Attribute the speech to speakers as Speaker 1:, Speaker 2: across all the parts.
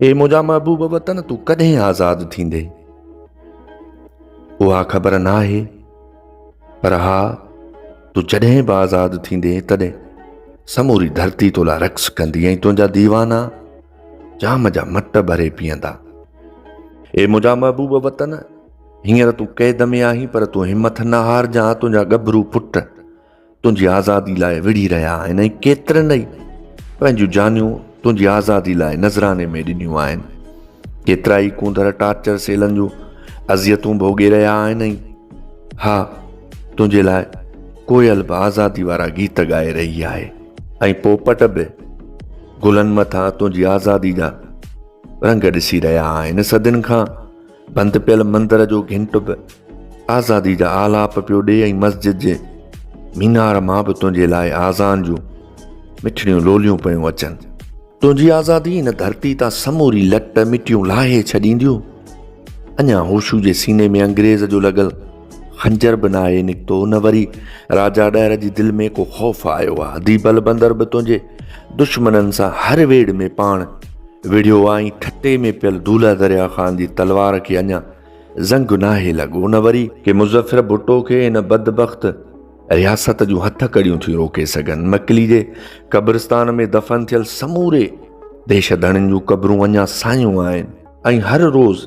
Speaker 1: اي منهنجا محبوب وطن تون ڪڏهن آزاد ٿيندين اها خبر ناهي پر ها تون جڏهن به آزاد ٿيندين تڏهن سموري ڌرتي تو لا رقص ڪندي ۽ تنهنجا ديوانا جام جا مٽ ڀري پيئندا اي منهنجا محبوب وطن هينئر تون قيد ۾ آهين پر تون همٿ نه هار جان تنهنجا ڳڀرو پٽ تنهنجي آزادي لاء وڙهي رهيا آهن ۽ ڪيترن ئي پنهنجون جانيون تنهنجي آزادي لاء نذراني ۾ ڏنيون آهن. ڪيترا ئي ڪونڌر ٽارچر سيلن جون اذيتون ڀوڳي رهيا آهن ۽ ها تنهنجي لاء ڪوئل به آزادي وارا گيت ڳائي رهي آهي. ۽ پوپٽ به گلن مٿان تنهنجي آزادي جا رنگ ڏسي رهيا آهن. صدين کان بند پيل مندر جو گهنٽ به آزادي جا آلاپ پيو ڏي ۽ مسجد جي مينار مان به تنهنجي لاء آزان جون مٺڙيون لوليون پيون اچن تنهنجي آزادي هن ڌرتي تان سموري لٽ مٽيون لاهي ڇڏينديون اڃا هوشو جي سيني ۾ انگريز جو لڳل خنجر به ناهي نڪتو نه وري راجا ڏهر جي دل ۾ ڪو خوف آيو آ دي بل بندر به تنهنجي دشمنن سان هر ويڙ ۾ پاڻ وڙهيو آ ۽ ٺٽي ۾ پيل دولا دريا خان جي تلوار کي اڃا زنگ ناهي لڳو نه وري ڪي مظفر ڀٽو کي ان بدبخت رياست جون هٿ ڪڙيون ٿيون روڪي سگهن مڪلي جي قبرستان ۾ دفن ٿيل سموري ديش ڌڻين جون قبرون اڃا سايون آهن ۽ هر روز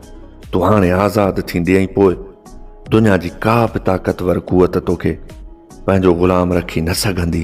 Speaker 1: تون هاڻي آزاد ٿيندي ۽ پوء دنيا جي ڪا به طاقتور قوت توکي پنهنجو غلام رکي نه سگهندي.